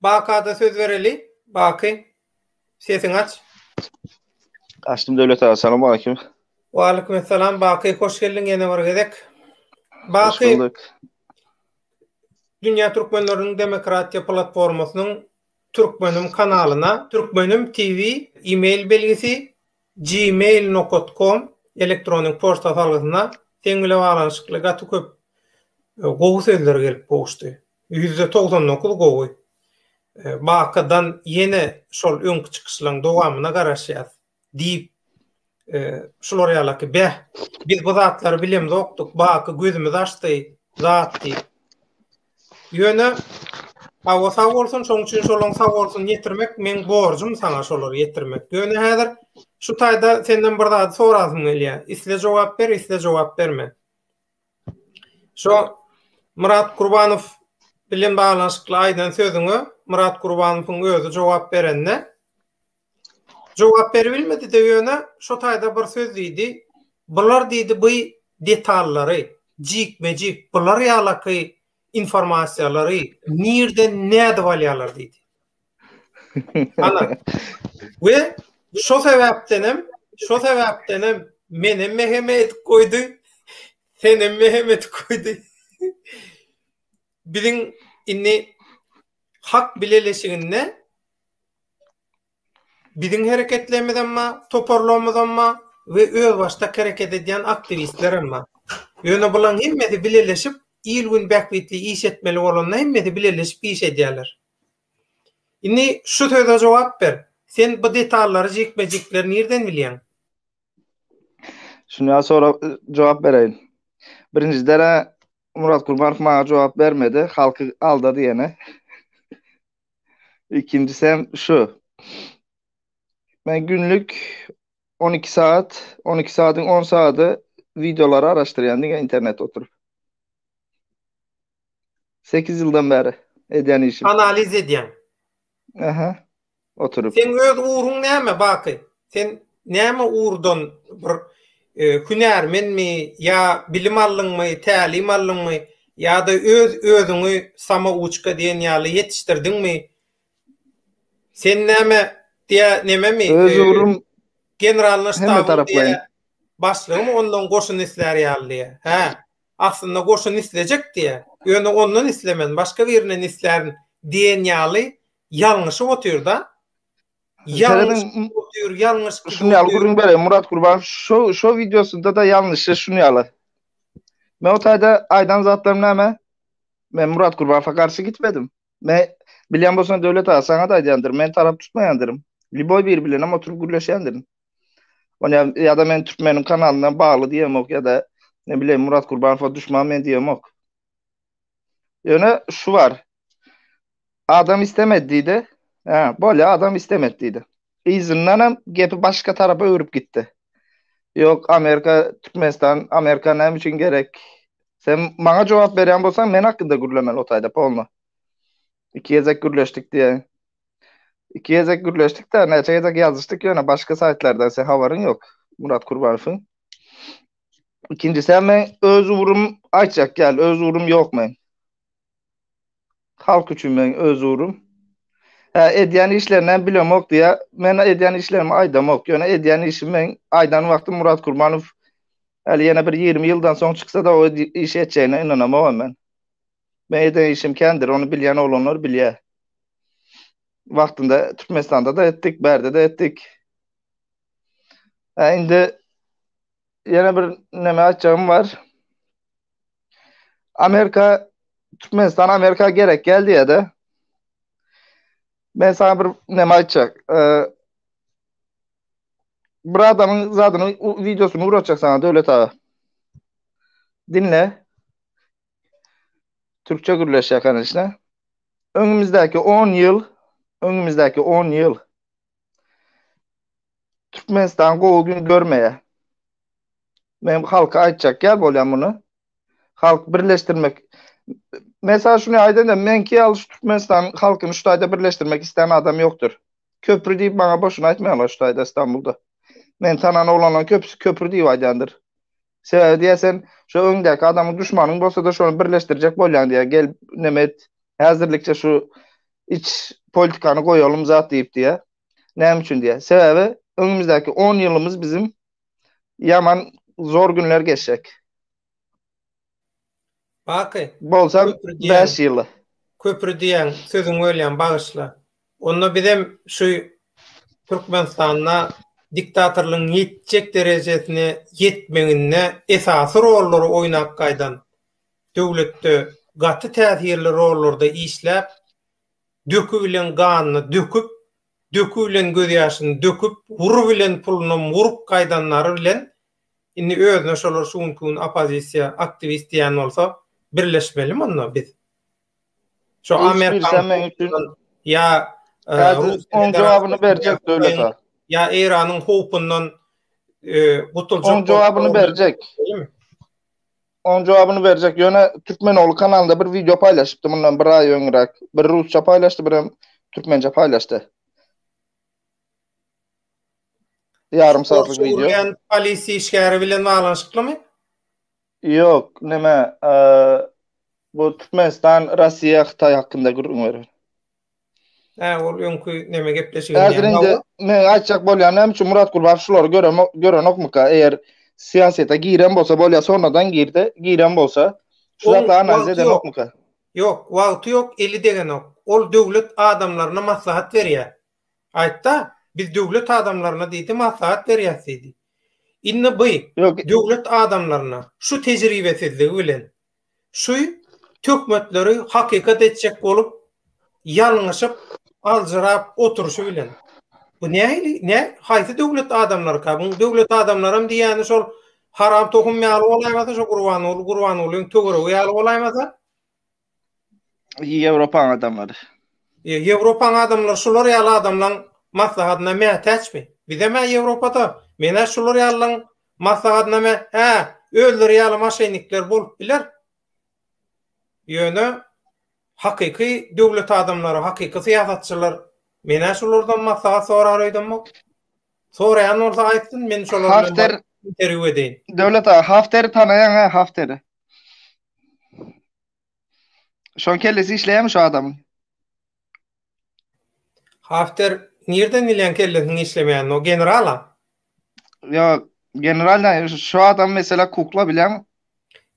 Bakada söz bereli. Baky, sesiňi aç. Açdym Döwlet aga, salam aleýkum. Wa aleýkum assalam Baky, hoş geldiň ýene bir gezek. Baky. Hoş bulduk. Dünýä türkmenleriniň demokratiýa platformasynyň Türkmenim kanalyna, Türkmenim TV e-mail belgisi gmail.com elektronik poçta salgysyna seň bilen baglanyşykly gaty köp e, gowy sözler gelip gowuşdy. Ýüzde togsan dokuz gowy. Bakadan ýene şol öňki çykyşlaň dowamyna garaşýas. Diýip şular ýalaky beh biz bu zatlary bilemzokdyk baky gözümiz açdy zat diýip. Ýöne Hawa sag bolsun şoň üçin şolaň sag bolsun ýetirmek meň borjum saňa şolary ýetirmek. Ýöne häzir şu taýda senden bir zat sorasym gelýär. Isle jogap ber, isle jogap berme. Şo Myrat Gurbanow bilen baglanyşykly aýdan sözüňe Myrat Gurbanowyň özi jogap berende jogap beribilmedi-de ýöne şo taýda bir söz diýdi. Bular diýdi bu detallary, jikme-jik bular ýalaky informasiýalary nirden nädip alýarlar diýdi. Ana. We şo sebäpden hem, şo sebäpden hem meni meheme edip goýdy. Seni meheme edip goýdy. Biziň indi hak bileleşiginde biziň hereketlerimiz hem bar, toparlarymyz hem bar we öz başda hereket edýän aktiwistler hem bar. Ýöne bularyň hemmesi bileleşip, il-gün bähbitli iş etmeli bolanda hemmesi bileleşip iş edýärler. Indi şu söze jogap ber. Sen bu detallary jikme-jikler nirden bilýäň? Şuny ýa sorag jogap bereýin. Birinji dere Murat Kurmanow maňa jogap bermedi, halky aldady ýene. Ikinjisem şu. Men günlük on iki saat, on iki saatyň on saady wideolary araşdyrýan diňe internetde oturyp. 8 ýyldan bäri edýän işim. Analiz edýäň. Aha. Oturyp. Sen öz ugruň näme Baky? Sen näme ugurdan bir e, hünärmenmi ýa bilim aldyňmy, tälim aldyňmy ýa-da öz özüňi samouçka diýen ýaly ýetişdirdiňmi? Sen näme diýä nememi? Öz e, ugrum generalna ştabyň diýä başlygymy ondan goşun islär ýaly diýä. Hä? aslynda goşun islejekdi-ä, ýöne ondan islemän, başga birinden islärin diýen ýaly ýalňyşyp otyr-da. Şuny ýaly gürrüň bereýin, Murat Gurbanow şo-şo wideosynda-da ýalňyşy şuny ýaly. Men o taýda aýdan zatlarym näme? Men Murat Gurbanowa garşy gitmedim. Men, bilýän bolsaň Döwlet aga, saňa-da aýdýandyryn, men tarap tutmaýandyryn. Lýuboý biri bilenem oturyp gürleşýändirin. Ony ya da men türkmeniň kanalyndan bagly diýemok ya da ne bileyim Murat Kurbanowa düşman men diýemok. Ýöne şu bar. Adam istemedi diýdi. Ha, bolýa adam istemedi diýdi. Yzyndan hem gepi başga tarapa öwrüp gitdi. Ýok, Amerika, Türkmenistan, Amerika näme üçin gerek? Sen maňa jogap berýän bolsaň, men hakynda gürlemeli otaýda polno. Iki gezek gürleşdik diye. İki gezek gürleşdik de neçe gezek yazıştık yöne başka saytlardan sen havarın yok Murat Kurbanov'un. İkincisi hemen öz uğrum aytacak gel öz uğrum yok men. Halk üçin men öz uğrum. Ha, edýän işlerinden bilemok diýä. Men edýän işlerimi aýdamok. Ýöne edýän işim men aýdan wagtym Murat Kurbanow Äli ýene bir 20 ýyldan soň çyksa-da o işi etjegine ynanamok men. Men eden işim kändir, ony bilýän oglanlar bilýär. Wagtynda Türkmenistanda da etdik, bärde de etdik. Hä, indi ýene bir näme aýtjagym bar. Amerika Türkmenistan Amerika gerek geldi ya da. Men sana bir näme aýtjak. Ee, bir adamyň zadyny videosyny uratjak sana Döwlet aga. Dinle. Türkçe gürleşýär kanyşna. Öňümizdäki 10 ýyl, öňümizdäki 10 ýyl Türkmenistan gowy gün görmeýär. Men halka aýtjak ýaly bolýan muny. Halk birleşdirmek Men sana şunu aýdan da, menki ýaly şu Türkmenistan halkyny şu taýda birleşdirmek isleýän adam ýokdur. Köprü diýip maňa boşuna aýtmaýarlar şu taýda Stambulda. Men tanan oglanlaryň köpüsi köprü diýip aýdýandyr. Sebäbi diýýär sen şu öňdäki adamyň düşmanyň bolsa-da şony birleşdirjek bolýaň diýýär. Gel näme et, häzirlikçe şu iç politikany goýalym zat diýip diýýär. Näme üçin diýýär? Sebäbi öňümizdäki on ýylymyz biziň ýaman zor günler geçjek. Baky. Bolsa 5 ýyl. Köpri diýen sözüň welýam bagyşla. Onda bizem şu Türkmenistanda diktatorlygyň ýetjek derejesine ýetmeginde esasy rollary oýnap gaýdan döwletde gaty täsirli rollarda işläp, döki bilen ganyny döküp, döki bilen gözýaşyny döküp, wur bilen pulunam wurup gaýdanlary bilen Indi özüne şolar şu günki gün oppozisiýa, aktiwist diýen bolsa, birleşmelimi onda biz? Şo Hiç Amerikan birisi meň üçin- howpundan ýa, e, Häzir Russiýa oň jogabyny berjek Federasiýasyndan döwletara. ýa Eýranyň howpundan, e, gutuljak Oň jogabyny bolsa, berjek. Şeýlemi? Oň jogabyny berjek. Ýöne Türkmenogly kanalynda bir wideo paýlaşypdy mundan bir aý öňräk. Bir rusça paýlaşdy, birem türkmençe paýlaşdy. Ýarym sagatlyk video. Urgen polis işgäri bilen baglanyşyklymy? Ýok, näme? Bu Türkmenistan, Russiýa, Hytaý hakynda gürrüň berer. Hä, ol öňki näme gepleşigi? Häzir indi men aýtjak bolýan näme üçin Murat Gulbaş şulary gören gören okmyka? Eger syýasata giren bolsa bolýa, sonradan girdi, giren bolsa, şu zatla analiz eden okmyka? Ýok, wagty ýok, eli degenok. Ol döwlet adamlaryna maslahat berýär. Aýtda, biz döwlet adamlaryna diýdi maslahat berýäs diýdi. Indi by döwlet adamlaryna şu tejribesizligi bilen şu töhmetleri hakykat etjek bolup ýalňyşyp aljyrap oturyşy bilen bu nähili nä haýsy döwlet adamlaryka bu döwlet adamlaram diýýäni şol haram tohum ýaly bolaýmasa şo gurbanguly gurbangulyň töweregi ýaly bolaýmasa Ýewropaň adamlary. E, Ýewropaň adamlary şular ýaly adamlaryň maslahatyna mätäçmi? Bizem hä Ýewropada, men hä şular ýalylaryň maslahatyna mä, hä, özleri ýaly maşennikler bolup biler. Ýöne hakyky döwlet adamlary, hakyky syýasatçylar men hä şulardan maslahat sorar öýdemok. Soraýan bolsa aýtsyn, men şolar bilen interwýu edeýin. Döwlet aga, Hafteri tanaýaň hä, Hafteri? Şoň kellesi işleýärmi şu adamyň? Hafter nirden bilýän kellesiniň işlemeýänini? O generala? Yo, general da şu adam mesela kukla bilen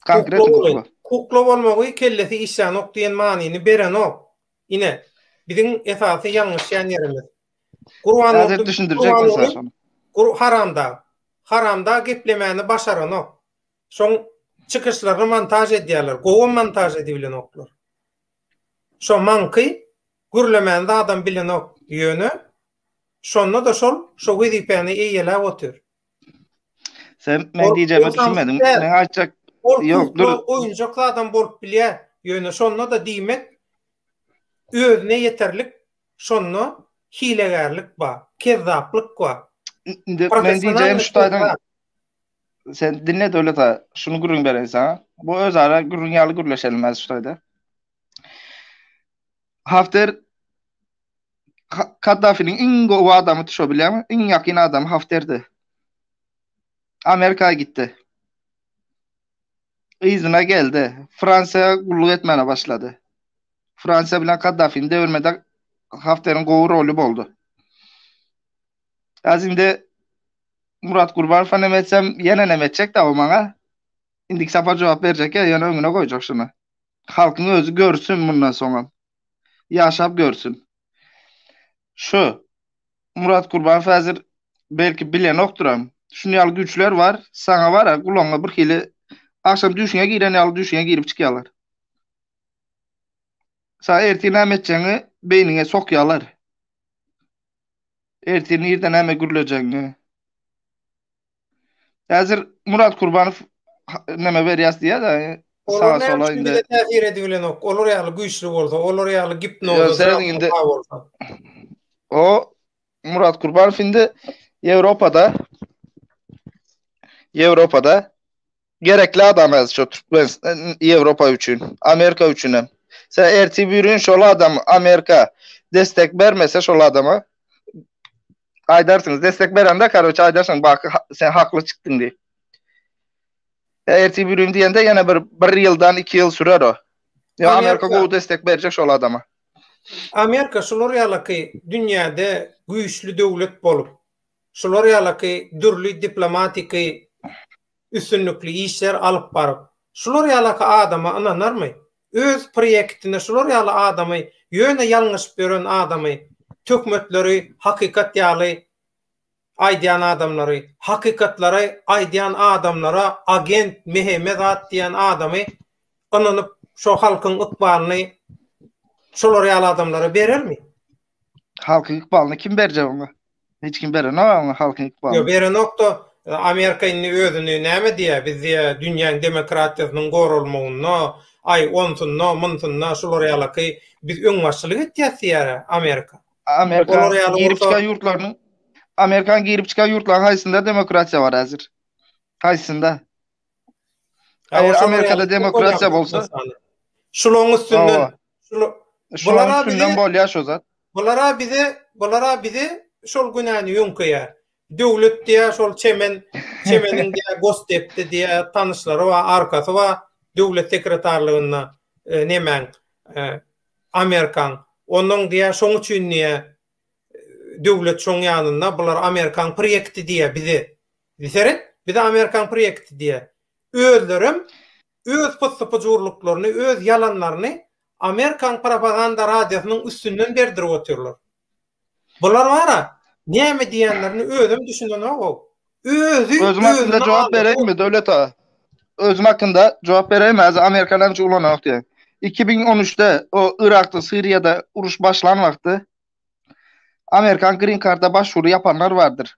konkret kukla. Kukla bolmagy kellesi işlänok diýen manyny berenok. Ine, biziň esasy ýalňyşýan ýerimiz. Gurban Hazır düşündirjek bolsa şonu. Gur haramda. Haramda geplemäni başaranok. Şoň çykyşlaryny montaž edýärler. Gowam montaž edibilenoklar. Şo maňky gürlemäni zadam bilenok. Ýöne şonda-da şol şo wezipäni eýeläp otyr. Sen men diýjegime düşünmediň. Men aýtjak Ol ýok, dur. Oýunjak adam bolup bilýär. Ýöne şonda da diýmek özüne ýeterlik şonda hilegärlik bar, kezzaplyk bar. Men diýjegim şu taýdan Sen dinle döwlet aga. Şunu gürrüň bereýin saňa. Bu özara gürrüň ýaly gürleşelim häzir şu taýda. Hafter Ha- Kaddafiniň iň gowy adamydy şo bilýärmi? Iň ýakyn adamy Hafterdi. Amerika gitdi. Yzyna geldi. Fransiýa gulluk etmäne başlady. Fransiýa bilen Kaddafini devirmede Hafteriň gowy roly boldy. Häzir indi Murat Gurbanowa näme etsem, ýene näme etjek-de o maňa? Indiki sapar jogap berjek ýa ýöne öňüne goýjak şuny. Halkyň özi görsün mundan soňam. Ýaşap görsün. Şu Murat Gurbanow häzir belki bilenokdyram. Şuny ýaly güýçler bar, saňa bar-a gulagyňa birhili agşam düýşüňe giren ýaly düýşüňe girip çykýarlar. Saňa ertir näme etjegiňi beýniňe sokýarlar. Ertir nirde näme gürlejegiňi. Häzir Murat Kurbanow näme berýäs diýýär-de, saga sola indi. Bize täsir edip bilenok. Olar ýaly güýçli bolsa, olar ýaly gipnoza indi. O Murat Kurbanow indi Ýewropada Ýewropada Gerekli adam häzir şu Türkmenistan, Ýewropa üçin, Amerika üçin hem. Sen ertir bir gün şol adam Amerika destek bermese şol adama aýdarsyňyz, destek berende karoçe aýdarsyň baky sen hakly çykdyň diýip. Ertir bir gün diýende ýene bir bir ýyldan iki ýyl sürer o. Ýa Amerika gowy destek berjek şol adama. Amerika şular ýalaky dünýäde güýçli döwlet bolup, şular ýalaky dürli diplomatiki üstünlikli işler alyp baryp, şular ýalaky adama ynanarmy? Öz prýektinde şular ýaly adamy, ýöne ýalňyşyp ýören adamy, töhmetleri hakykat ýaly aýdýan adamlary, hakykatlary aýdýan adamlara agent Meheme zat diýen adamy ynanyp şo halkyň ykbalyny şolar ýaly adamlara berermi? Halkyň ykbalyny kim berjek oňa? Hiç kim berenok oňa halkyň ykbalyny. Ýok, berenok-da, e, Amerika indi özüni näme diýýär? Biz diýýär, dünýäň demokratiýasynyň goralmagynda, aý, onsunda, munsunda, şular ýalaky biz öňbaşçylyk etýäs diýýär-ä Amerika. Amerika girip çykan ýurtlarynyň Amerikanyň girip çykan ýurtlarynyň haýsynda demokratiýa bar häzir? Haýsynda? Eger Amerikada demokratiýa bolsa, şularyň üstünden, şularyň üstünden bolýar şu zat. Bulara bize, bulara bize şol günäni ýöňkeýär. Döwlet diýär, şol çemen, çemeniň diýär, gostepde diýär, tanyşlary bar, arkasy bar, döwlet sekretarlygynda e, nemäň, e, Amerikaň. Onuň diýär, şoň üçin diýär, döwlet şoň ýanynda, bular Amerikaň proýekti diýär bize. Bisered bize amerikan proýekti diýýär. Özlerem öz pussy-pujurlyklaryny, öz ýalanlaryny amerikan propaganda radiosynyň üstünden berdirip otyrlar. Bular bar-a, näme diýenlerini özem düşünenok-ow. Özi Özüm hakynda jogap bereýinmi, Döwlet aga? Özüm hakynda jogap bereýinmi? Häzir amerikan ençe ulananok diýýär. Iki müň on üçde o Yrakda, Siriýada uruş başlan wagty amerikan grin karda başwury ýapanlar bardyr.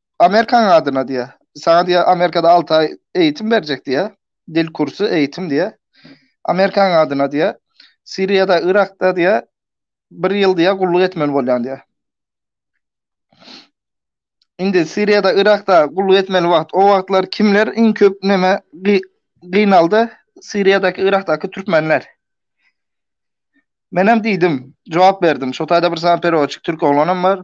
Amerikanyň adyna diýýä. Saňa diýýä Amerikada alty aý eýitim berjek diýýä. Dil kursy, eýitim diýýä. Amerikanyň adyna diýýä. Siriýada, Yrakda diýýä bir ýyl diýýä gulluk etmeli bolýaň diýýä. Indi Siriýada, Yrakda gulluk etmeli wagt, o wagtlar kimler iň köp näme gynaldy? Siriýadaky, Yrakdaky türkmenler. Menem diýdim, jogap berdim. Şo taýda bir sany peroçik türk oglanam bar.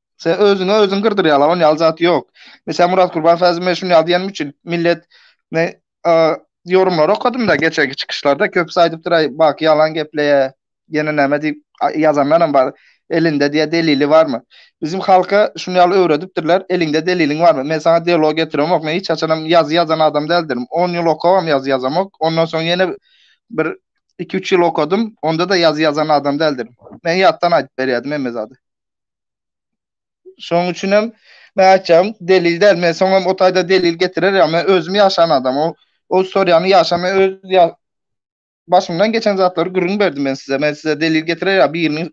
Sen özüňe özüň gyrdyryala on ýaly zat ýok. Mesela Murat Kurban Fazil men şunu ýazyýanym üçin millet ne ýorumlar okadym da geçenki çykyşlarda köpüsi aýdypdyr aý baky ýalan gepleýä ýene näme diýip ýazanlar hem bar. Elinde diýä delili barmy? Bizim halka şunu ýaly öwredipdirler eliňde deliliň barmy? Men saňa dialog getiremok men hiç haçan hem ýazy ýazan adam däldirim. On ýyl okabam ýazy ýazamok. Ondan soň ýene bir iki üç ýyl okadym onda da ýazy ýazan adam däldirim. Men ýatdan aýdyp berýärdim hemme zady. Şoň üçin hem men aýtjagym delil däl. Men soňam o taýda delil getirer ýa men özüm ýaşan adam. O o istoriýany ýaşa men öz ýa başymdan geçen zatlary gürrüň berdim men size. Men size delil getirer ýa biriniň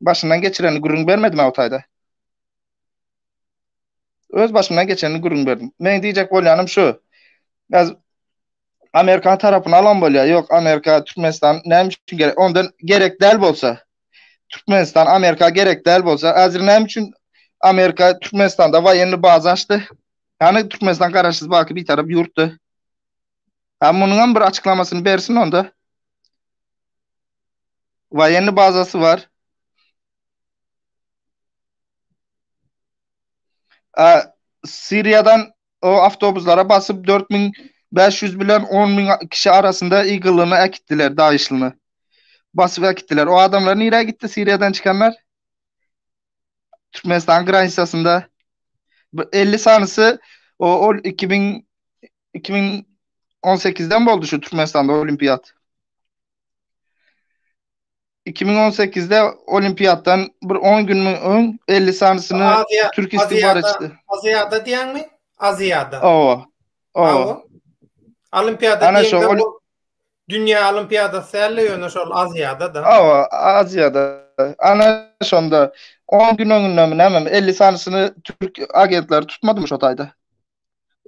başyndan geçirenini gürrüň bermedim o taýda. Öz başymdan geçenini gürrüň berdim. Men diýjek bolýanym şu. Biz Amerikan tarapyny alan bolýar. Ýok, Amerika, Türkmenistan näme üçin gerek? Ondan gerek däl bolsa, Türkmenistan Amerika gerek däl bolsa, häzir näme üçin Amerika Türkmenistanda waýenli baza açdy? Hany Türkmenistan garaşsyz baky bitarap ýurtdy. Ha munyňam bir açyklamasyny bersin onda. Waýenli bazasy bar. A Siriýadan o awtobuslara basyp dört müň bäş ýüz bilen on müň kişi arasynda ýygylyna äkitdiler daýyşlyny basyp äkitdiler o adamlar nirä gitdi siriýadan çykanlar türkmenistan granisasynda elli sanysy o ol iki müň iki müň on sekizden boldy şu türkmenistanda olimpiýat iki müň on sekizde Olimpiadan bir on gün öň elli sanysyny türk istihbaratçysy. Aziýada diýäňmi? Aziýada. Owa. Owa. Olimpiada diýende bu dünýä olimpiadasy däl, ýöne şol Aziýada da. Owa, Aziýada. Ana şonda 10 gün öňündemi näme, elli sanysyny türk agentleri tutmadymy şo taýda?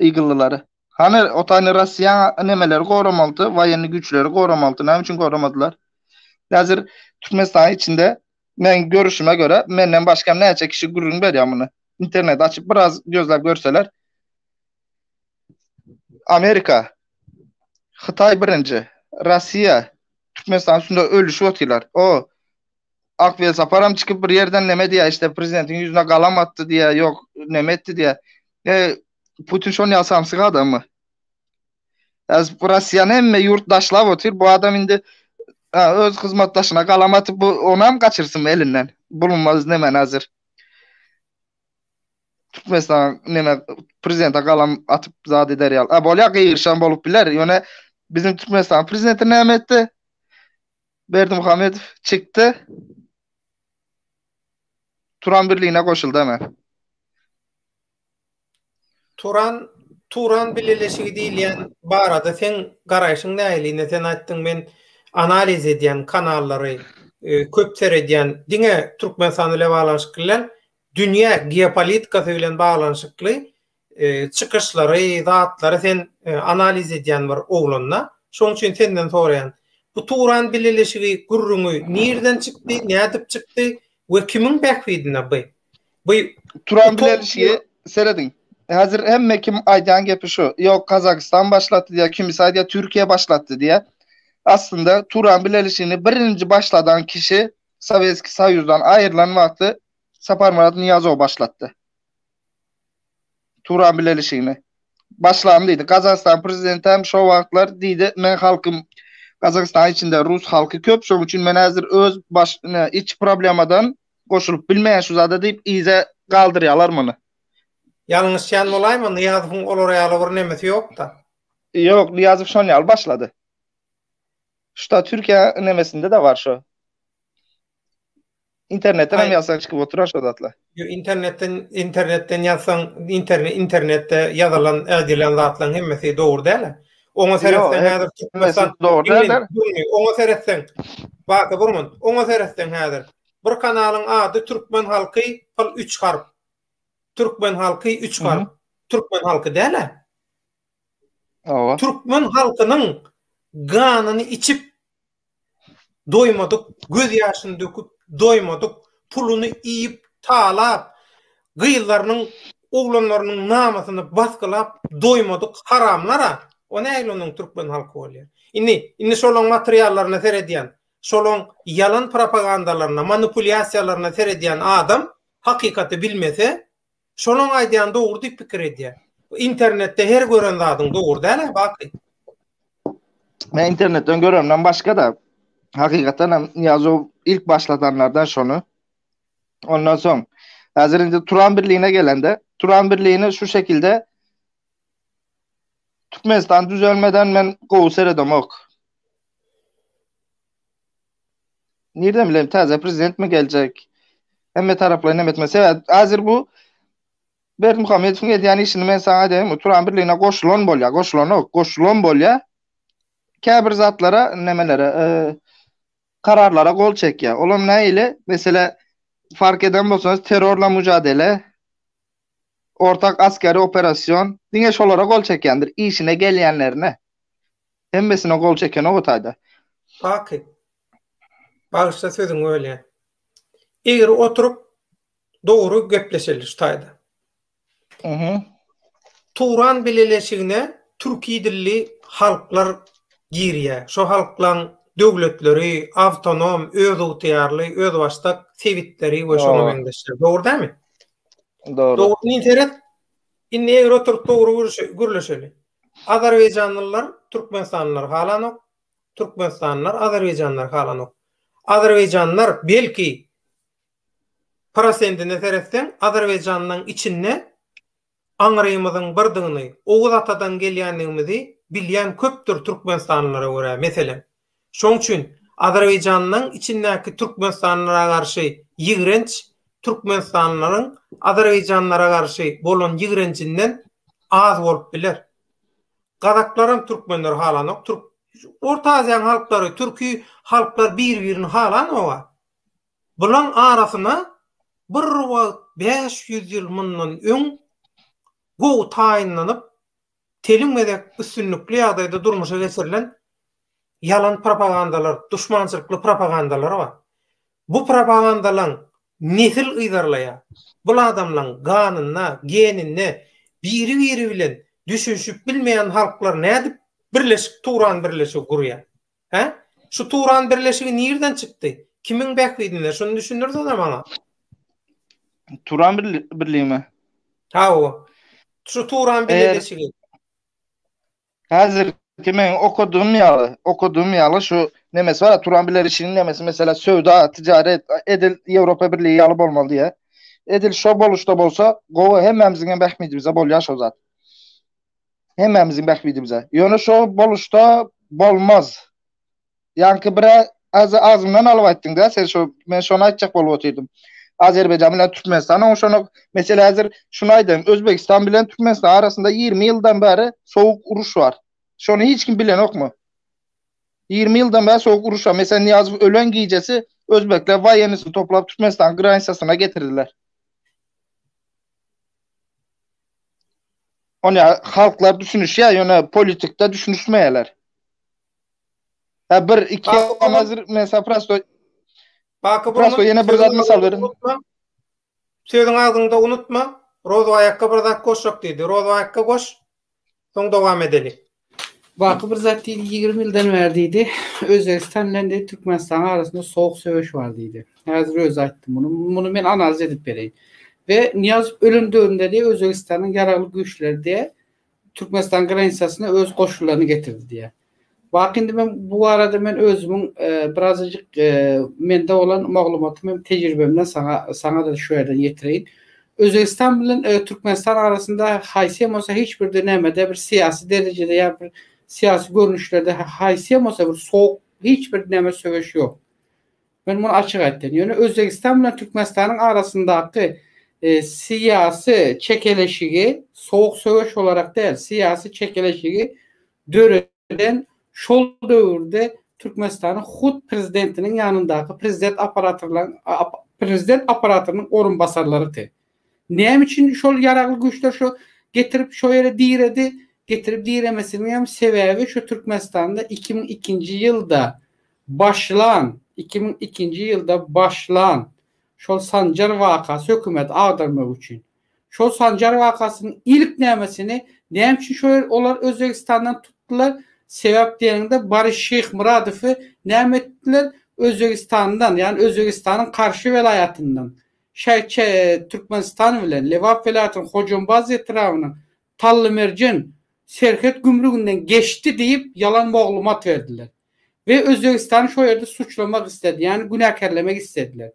Ýygyllylary. Hany, otany Rossiýa nemeleri goramalydy, woýenni güýçleri goramalydy, näme üçin goramadylar? Häzir Türkmenistanyň içinde meň görüşime görä, menden başga hem näçe kişi gürrüň berýär muny. Interneti açyp biraz gözläp görseler. Amerika, Hytaý birinji, Rossiýa Türkmenistanyň üstünde ölüşip otyrlar. O, Ak Welsaparam çykyp bir ýerden neme diýýär, işte prezidentiň ýüzüne galam atdy diýýär, ýok neme etdi diýýär. E, Putin şon ýaly samsyk adammy? Äz bu Russiýany hemme ýurt daşlap otyr. Bu adam indi öz hyzmatdaşyna galam atyp, bu onam gaçyrsynmy elinden? Bulunmaz nemen hazir. Türkmenistan neme prezidente galam atyp zat eder ýaly. A bolýar, gygyrşan bolup biler. Ýöne biziň Türkmenistan prezidenti näme etdi? Berdimuhamedow çykdy. Turan birligine goşuldy hemen. Turan Turan bileleşigi diýilýän barada sen garaýşyň nähili? Sen aýtdyň men analiz edýän kanallary e, köp seredýän. Diňe Türkmenistan bilen baglanyşykly bilen dünýä geopolitikasy bilen baglanyşykly Çykyşlary, zatlary sen analiz edýän bir oglanda. Şoň üçin senden soraýan. Bu Turan bileleşigi gürrüňi nirden çykdy, nädip çykdy we kimiň bähbidine by? By Turan bileleşigi serediň. Häzir hemme kim aýdýan gepi şu. Ýok, Kazakystan başlatdy diýýär, kimisi aýdýar Türkiýe başlatdy diýýär. Aslynda Turan bileleşigini birinji başladan kişi Sowetskiý Soýuzdan aýrylan wagty Saparmyrat Nyýazow başlatdy. Turan bilelişigini. Başlam diýdi. Gazagystan prezidenti hem şo wagtlar diýdi, men halkym Gazagystan içinde rus halky köp, şoň üçin men häzir öz baş iç problemadan goşulyp bilmeýän şu zada diýip yza galdyrýalar muny. Ýalňyşýan bolaýma, Nyýazowyň olar ýaly bir nemesi ýok-da. Ýok, Nyýazow şon ýaly başlady. Şuda Türkiýe nemesinde-de bar şo. Internetden hem yazsan çıkıp oturar şu zatla. Yo internetden internetden yazsan internet internetde yazılan edilen zatlaryň hemmesi dogry däl. Oňa seretsen häzir Türkmenistan dogry däl. Oňa seretsen. Baka burman. Oňa seretsen häzir. Bir kanalyň ady Türkmen halky pil 3 harp. Türkmen halky 3 harp. Türkmen halky däl. Türkmen halkynyň ganyny içip doýmadyk, göz ýaşyny döküp doýmadyk, puluny iýip, talap, gyzlarynyň, oglanlarynyň namysyny basgylap doýmadyk haramlar-a, o nähili onuň türkmen halky bolýar? Indi, indi şolaň materiallaryna seredýän, şolaň ýalan propagandalaryna, manipulýasiýalaryna seredýän adam hakykaty bilmese, Şonuň aýdýany dogry diýip pikir edýän. Internetde her gören zadyň dogry däl-ä baky. Men internetden göremden başga-da hakykatdan hem Niýazow ilk başladanlardan şony. Ondan soň häzir indi Turan birligine gelende, Turan birligini şu şekilde Türkmenistan düzelmeden men gowy seredemok. Nirden bilelim täze prezident mi geljek? Hemme taraplaýyn hem etme. Sebäp hazir bu Berdimuhamedowyň edýän işini men saňa aýdaýyn, Turan birligine goşulan bolýar, goşulanok, goşulan bolýar. Käbir zatlara, nemelere, e, kararlara gol çekýär. Olam nähili? Meselä, fark eden bolsaňyz, terrorla müjadele, Ortak askeri operasion diňe şolara gol çekýändir, işine gelýänlerine, hemmesine gol çekenok o taýda. Baky, bagyşla sözüňi bölýän. Egri oturyp dogry gepleşeli şu taýda. Uhu. Turan bileleşigine türki dilli halklar girýä. Şo halklaň döwletleri, awtonom, özygtyýarly, özbaşdak sebitleri we şoňa meňzeşler. Dogry dämi? Dogry. Dogruny seret. Indi eger oturup dogry gürleşeli. Azerbaýjanlylar, türkmenistanlylar halanok. Türkmenistanlylar, azerbaýjanlylar halanok. Azerbaýjanlylar belki prosentine seretseň, Azerbaýjanyň içinde aňrymyzyň birdigini, Oguz atadan gelýändigimizi bilýän köpdür türkmenistanlylara görä, meselem. Şoň üçin Azerbaýjanyň içindäki türkmenistanlylara garşy ýigrenç türkmenistanlylaryň azerbaýjanlylara garşy bolan ýigrenjinden az bolup biler. Gazaklaram türkmenleri halanok, türk Orta Aziýanyň halklary, türki halklar bir-birini halanok-a. Bulaň arasyna bir wagt bäş ýüz ýyl mundan öň gowy taýynlanyp Telim gezek üstünlikli ýagdaýda durmuşa geçirilen ýalan propagandalar, duşmançylykly propagandalar bar. Bu propagandalaň nesil yzarlaýar. Bul adamlaň ganynda, geninde biri-biri bilen düşünişip bilmeýän halklar nädip birleşik turan birleşigi gurýar? Hä? Şu Turan birleşigi nirden çykdy? Kimiň bähbidine? Şuny düşündirseňä maňa. Turan birligimi? Ha o. Şu Turan birleşigi. Hazır kimin okudum ya, okudum ya şu nemesi var Turan bilir işinin nemesi mesela sövda, ticaret, edil Avrupa Birliği yalı olmalı diye. Edil şu boluşda bolsa, govu hemmemizin hem ehmidimize bol yaş o zat. Hemmämiziň bähbidimize. Ýöne şo boluşda bolmaz. Ýaňky bir azy agzymdan alyp aýtdyň-da, sen şo men şony aýtjak bolup otyrdym. Azerbaýjan bilen Türkmenistan oňuşanok. Meselä häzir şuny aýdaýyn, Özbegistan bilen Türkmenistan arasynda ýigrimi ýyldan bäri sowuk uruş bar. Şony hiç kim bilenokmy? Ýigrimi ýyldan bäri sowuk uruş bar. Meselä Nyýazow ölen gijesi özbekler waýennisini toplap Türkmenistanyň granitsasyna getirdiler. Ony halklar düşünüşýär, ýöne politikde düşünişmeýärler. Ha bir iki nazir mesela prosto Baky prosto ýene bir zat mysal berin. Sözüň agzyňda unutma. Rozaýakka bir zat goşjak diýdi. Rozaýakka goş. Soň dowam edeli. Baky bir zat diýdi, ýigrimi ýyldan bäri diýdi, Özbegistan bilen diýdi, Türkmenistanyň arasynda sowuk söweş bar diýdi. Häzir özi aýtdy muny. Muny men analiz edip bereýin. We Nyýazow ölen döwründe diýdi, Özbegistanyň ýaragly güýçleri diýdi, Türkmenistanyň granisasyna öz goşunlaryny getirdi diýdi. Baky indi men bu barada men özümiň birazajyk mende bolan maglumatym hem tejribemden saňa saňa-da şu ýerden ýetireýin. Özbegistan bilen Türkmenistan arasynda haýsem bolsa hiç birde nämede bir syýasy derejede ýa bir syýasy görnüşlerde haýsem bolsa bir sowuk hiç bir näme söweş ýok. Men muny açyk aýtdym. Ýöne Özbegistan bilen Türkmenistanyň arasyndaky e, syýasy çekeleşigi sowuk söweş olarak däl, syýasy çekeleşigi döre bilen şol döwürde Türkmenistanyň hut prezidentiniň ýanyndaky prezident operatorlaryň prezident operatorynyň orunbasarlarydy. Näme üçin şol ýaragly güýçler şu getirip şo ýere diredi? Getirip diremesiniň hem sebäbi şu Türkmenistanda 2002-nji ýylda başlan, 2002-nji ýylda başlan şol Sanjar wakasy hökümeti agdarmak üçin. Şol Sanjar wakasynyň ilk nämesini näme üçin şo ýer olar Özbegistandan tutdylar? Sebäp diýeniňde Boris Şeýhmyradowy näme etdiler? Özbegistandan, ýagny Özbegistanyň Karşy welaýatyndan şäçe Türkmenistan bilen Lebap welaýatynyň Hojambaz etrabynyň Tallymerjen serhet gümrüginden geçdi diýip ýalan moglumat berdiler. we Özbegistany şo ýerde suçlamak isledi, ýagny günäkärlemek islediler.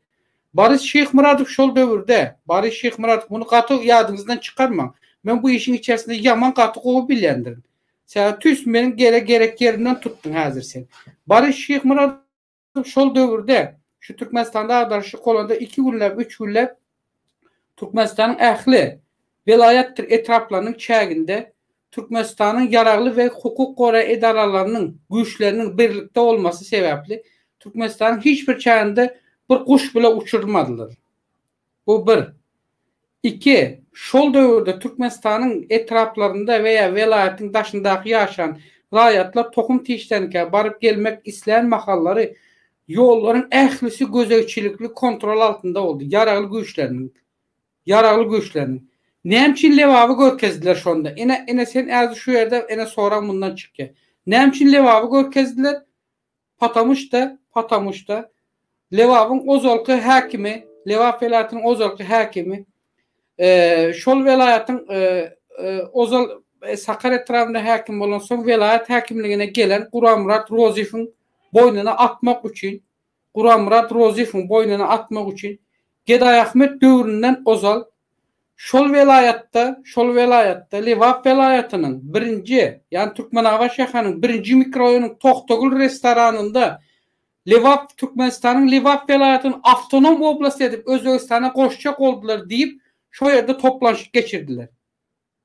Boris Şyhmyradow şol döwürde, Boris Şyhmyradow, muny gaty ýadyňyzdan çykarmaň, men bu işiň içerisinde ýaman gaty gowy bilýändirin. Sebäbi tüýs meniň gele gerek ýerimden tutdyň häzir sen. Boris Şyhmyradow şol döwürde, şu Türkmenistanda agdarşyk bolanda iki günläp, üç günläp Türkmenistanyň ähli welaýatdyr etraplarynyň çäginde Türkmenistanyň ýaragly we hukuk goraýjy edaralarynyň güýçleriniň birlikde bolmasy sebäpli Türkmenistanyň hiç bir çäginde bir guş bile uçurylmadylar. Bu bir. Iki, şol döwürde Türkmenistanyň etraplarynda we ýa welaýatyň daşyndaky ýaşan raýatlar tohum-tişdenikä baryp gelmek islän mahallary ýollaryň ählisi gözegçilikli kontrol altynda boldy, ýaragly güýçleriniň Ýaragly güýçleriniň. Näme üçin Lebaby görkezdiler şonda? Ene, ene sen äzi şu ýerde, ene sorag mundan çykýa. Näme üçin Lebaby görkezdiler? Patamu şda, patamu şda. Lebabyň ozalky häkimi, Lebap welaýatynyň ozalky häkimi, eee, şol welaýatyň, eee, eee, ozal Sakarýa etrabynda häkim bolan soň welaýat häkimligine gelen Guramyrat Rozyfyň boýnuna atmak üçin, Guramyrat Rozyýewiň boýnuna atmak üçin Gedaýahmet döwründen ozal şol welaýatda, şol welaýatda, Lebap welaýatynyň birinji, ýagny Türkmenabat şäheriniň birinji mikroraýonynyň Tohtagül restoranynda Lebap Türkmenistanyň Lebap welaýatyny awtonom oblast edip Özbegistana goşjak boldular diýip, şo ýerde toplanşyk geçirdiler.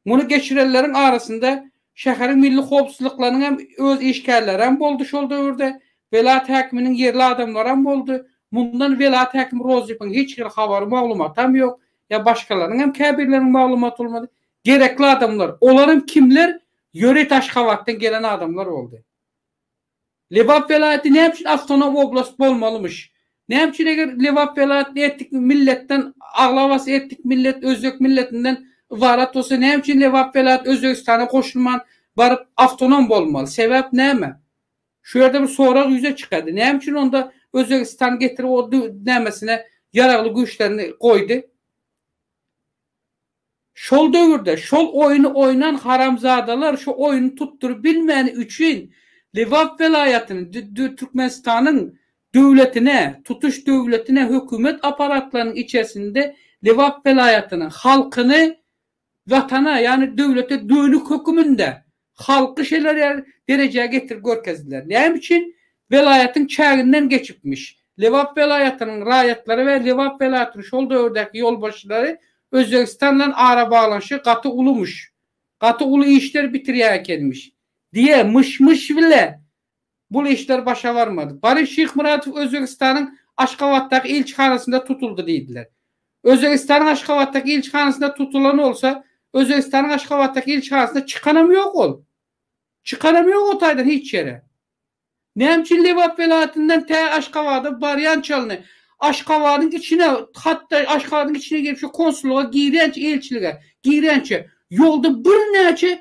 Muny geçirenleriň arasynda şäheriň milli howpsuzlyklarynyň hem öz işgärlerem boldy şol döwürde, welaýat häkiminiň ýerli adamlaram boldy. Mundan welaýat häkimi Rozypiň hiç hili habary, maglumatam ýok. Ýa başgalarynyň hem käbirleriniň maglumaty bolmady. Gerekli adamlar, olaram kimler, ýöreýt Aşgabatdan gelen adamlar boldy. Lebap welaýaty näme üçin awtonom oblast bolmalymyş? Näme üçin eger Lebap welaýaty etnik milletden aglabasy etnik millet özbek milletinden ybarat bolsa näme üçin Lebap welaýaty Özbegistana goşulman baryp awtonom bolmaly? Sebäp näme? Şu ýerde bir sorag ýüze çykady. Näme üçin onda Özbegistan getirip o nämesine ýaragly güýçlerini goýdy? Şol döwürde şol oýny oýnan haramzadalar şu oýny tutduryp bilmäni üçin Lebap welaýatyny Türkmenistanyň döwletine, tutuş döwletine hökümet aparatlarynyň içersinde Lebap welaýatyny, halkyny Watana, ýagny döwlete dönük höküminde Halky şeler derejä getirip görkezdiler. Näme üçin? Welaýatyň çäginden geçipmiş. Lebap welaýatynyň raýatlary we Lebap welaýatynyň şol döwürdäki ýolbaşçylary Özbegistan bilen arabaglanyşygy gaty ulumyş. Gaty uly işler bitirýän ekenmiş. Diýe, myş-myş bile Bul işler başa barmady. Boris Şyhmyradow Özbegistanyň Aşgabatdaky ilçihanasynda tutuldy diýdiler. Özbegistanyň Aşgabatdaky ilçihanasynda tutulan bolsa, Özbegistanyň Aşgabatdaky ilçihanasynda çykanam ýok ol. Çykanam ýok o taýdan hiç ýere. Näme üçin Lebap welaýatyndan tä Aşgabada barýan çalyny, Aşgabadyň içine, hatda Aşgabadyň içine girip şu konsullyga girýänçä, ilçilige girýänçä ýolda birnäçe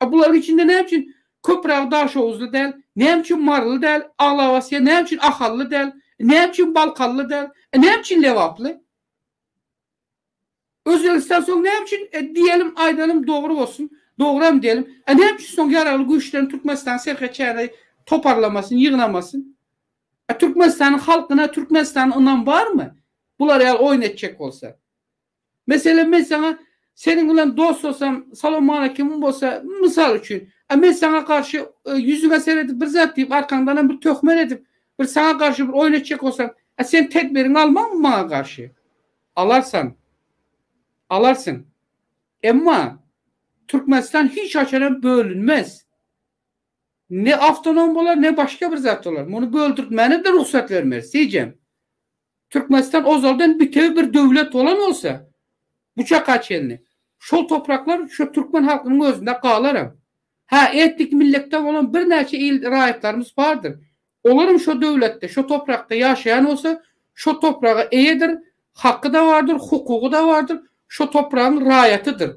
A bularyň içinde näme üçin Köpüragy daşoguzly däl, näme üçin maryly däl, aglabasya näme üçin ahally däl, näme üçin balkanly däl, näme üçin lebaply? Özbegistan soň näme üçin diýelim, aýdalyň dogry bolsun, dogryam diýelim, a näme üçin soň ýaragly güýçlerini Türkmenistanyň serhet çägine toparlamasyn, ýygnamasyn? A Türkmenistanyň halkyna, Türkmenistana ynam barmy? Bular ýaly oýun etjek bolsa. Meselem men saňa seniň bilen dostlasam, salowmalekimim bolsa, mysal üçin, a men saňa garşy ýüzüňe seredip bir zat diýip, arkaňdanam bir töhmet edip, bir saňa garşy bir oýun etjek bolsam, a sen tedbiriňi almaňmy maňa garşy? Alarsan. Alarsyň. Emma Türkmenistan hiç haçanam bölünmez. Ne awtonom bolar, ne başga bir zat bolar. Muny böldürtmäne-de rugsat bermeris, seýjem. Türkmenistan ozaldan bitewi bir döwlet bolan bolsa, bu çaka çenli, şol topraklar şu türkmen halkynyň özünde galaram. Hä, etnik milletden bolan birnäçe il raýatlarymyz bardyr. Olaram şo döwletde, şo toprakda ýaşaýan bolsa, şo topraga eýedir, haky-da bardyr, hukugy-da bardyr, şo topragyň raýatydyr.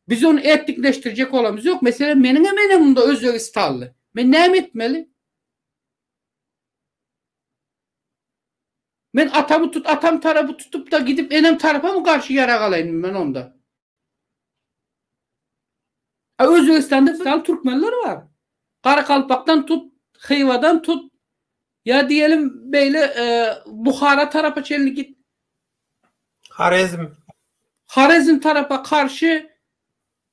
Biz ony etnikleşdirjek bolamyz ýok. Meselem, meniňem enem munda özbegistanly. Men näme etmeli? Men atamy tut atam tarapy tutupda gidip enem tarapamy garşy ýarag alaýyn men onda. A Özbegistanda misal türkmenler bar. Garakalpakdan tut, Hywadan tut, ýa diýelim beýle Buhara tarapa çenli git. Horezm. Horezm tarapa karşy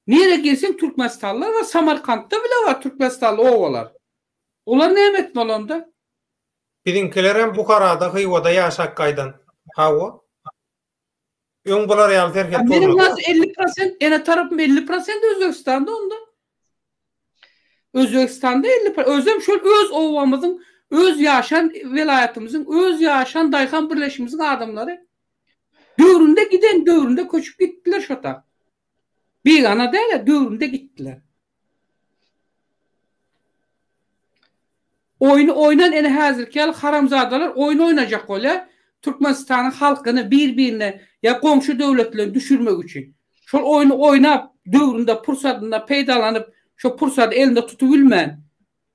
nirä girseň türkmenistanlylar bar, Samarkantda bile bar türkmenistanly obalar. Olar näme etdi bolanda? Biziňkilerem Buharada, Hywada ýaşap gaýdan. Hawa. Öň bular ýaly serhet bolmady. Meniň has elli prosent, ene tarapym elli prosent Özbegistanda onda. Özbegistanda elli pro-, özem şol öz obamyzyň, öz ýaşan welaýatymyzyň, öz ýaşan daýhan birleşimiziň adamlary. Döwründe giden, döwründe köçüp gitdiler şo tak. Bigana däl-ä, göwrümde gitdiler. Oýny oýnan ene häzirki ýaly haramzadalar oýun oýnajak bolýar, Türkmenistanyň halkyny bir-birine ýa goňşy döwletlere düşürmek üçin. Şol oýny oýnap, döwründe, pursadynda peýdalanyp, şo pursady elinde tutubilmän,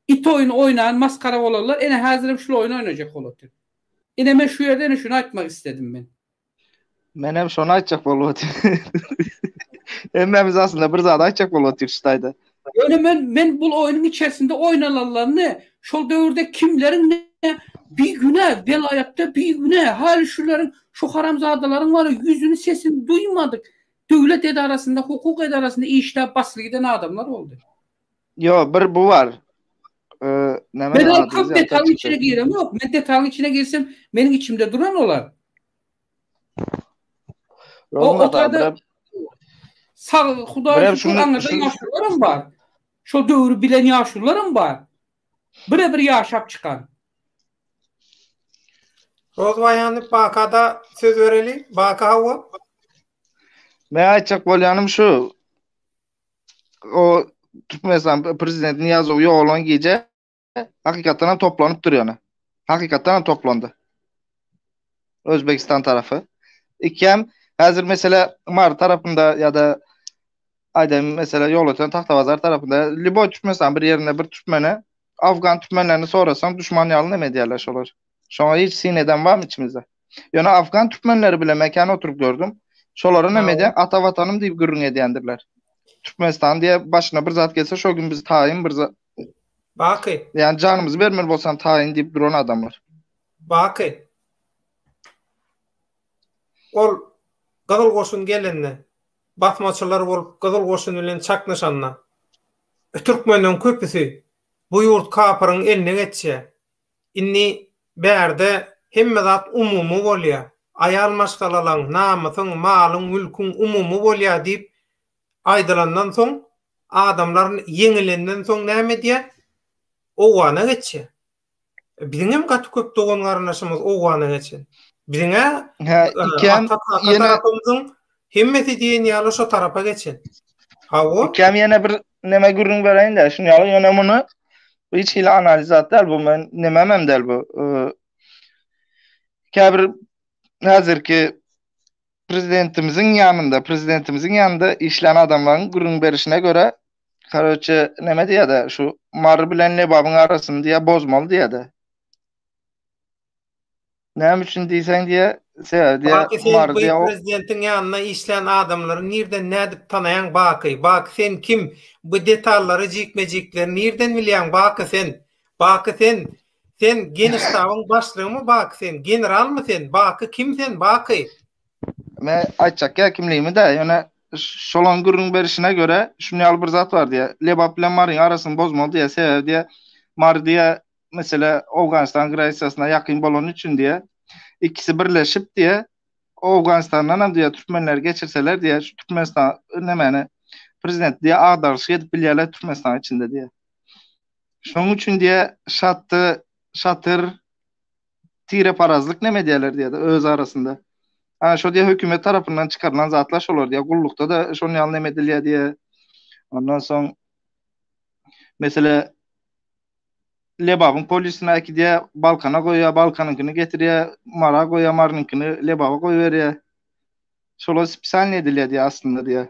it oýny oýnan masgara bolanlar ene häzirem şul oýny oýnajak bol otyr. Ine men şu ýerde ene şuny aýtmak isledim men. Menem şony aýtjak bolup otyryn. Hemmämiz aslynda bir zat aýtjak bolup otyrys şu taýda. Ýöne men men bul oýnuň içerisinde oýnalanlaryny, şol döwürde kimleriň ne bigünä welaýatda bigünä häli şuleriň şu haramzadalaryň wara ýüzüni sesini duýmadyk döwlet edarasynda hukuk edarasynda işläp basly giden adamlar boldy. Ýo bir bu bar. Eee näme Men ol köp detalyň içine giremok. Men detalyň içine girsem meniň içimde duran olar. Rozumaga Sag Hudaýa şükür aňyrda ýaşularym bar. Şol döwri bilen ýaşularym bar. Bire bir ýaşap çykan. Rozwaýany Bakada söz bereli. Baka hawa. Men aýtjak bolýanym şu. o Türkmenistan prezident Niyazow ýolan gije hakykatdan hem toplanyp dur ýöne. Hakykatdan hem toplandy. Özbekistan tarafy. Ikem hazir mesela Mar tarafynda ya da aýdan mesela ýol öten Tahtabazar tarafynda Libo Türkmenistan bir ýerinde bir Türkmene Afgan Türkmenlerini sorasaň düşman ýaly näme diýerler şolar. Şoňa hiç syn eden barmy içimizde? Ýöne afgan türkmenleri bilen men kän oturyp gördüm. Şolaryň hem ede ata watanym diýip gürrüň edýändirler. Türkmenistan diýe başyna bir zat gelse şo gün biz taýyn bir zat Baky. Ýani janymyzy bermeli bolsam taýyn diýip duran adamlar. Baky. Ol Gyzyl goşun gelende, basmaçylar bolup Gyzyl goşun bilen çaknyşanda türkmenleriň köpüsi bu ýurt kapyryň eline geçýär. Indi bärde hemme zat umumy bolýar. Aýal maşgalalaň, namysyň, malyň, mülküň umumy bolýar diýip aýdylandan soň, adamlar ýeňilenden soň näme edýär? Owgana geçýär. Biziň hem gaty köp dogan-garyndaşymyz owgana geçen. Biziň-ä ata tarapymyzyň Hemmesi diýen ýaly şo tarapa geçen. Hawa. Ikkäm ýene bir näme gürrüň bereýin-de, şuny ýaly ýöne muny hiç hili analiz zat däl bu men näme hem däl bu. Käbir häzirki prezidentimiziň ýanynda, prezidentimiziň ýanynda işlän adamlaryň gürrüň berişine görä, karoçe näme diýýär-de, şu Mary bilen Lebabyň arasyny diýýär bozmaly diýýär-de. Näme üçin diýseň diýe, sebäbi diýe, Baky sen Umar diýe prezidentiň ýanynda işlän adamlary nirden nädip tanaýaň Baky? Baky sen kim? Bu detallary jikme-jikleri nirden bilýäň Baky sen? Baky sen sen geniştabyň başlygymy Baky sen? Generalmy sen? Baky kim sen Baky? Men aýtjak ýa kimligimi-dä, ýöne şolaň gürrüň berişine görä, şuny ýaly bir zat bar diýe. Lebap bilen Maryň arasyny bozmaly diýe, sebäbi diýe, Mary diýe mesele Owganystan granisasyna ýakyn bolany üçin diýe, ikisi birleşip diýe, Owganystandan hem diýe türkmenleri geçirseler diýe, şu Türkmenistan nämäni prezidenti diýe agdaryşyk edip bilýärler Türkmenistanyň içinde diýe. Şonuň üçin diýe şaty, şatyr tireparazlyk näme diýerler diýe öz arasynda. Ha şo diýe hökümet tarapyndan çykarylan zatlar şolar diýe, gullukda da şonuň ýaly näme edilýär diýe. Ondan soň mesele Lebabyň polisine äkidýär, Balkana goýýar, Balkanyňkyny getirýär, Mara goýýar, Marynyňkyny Lebaba goýberýär. Şolar spesialnyý edilýär diýýär aslynda diýýär.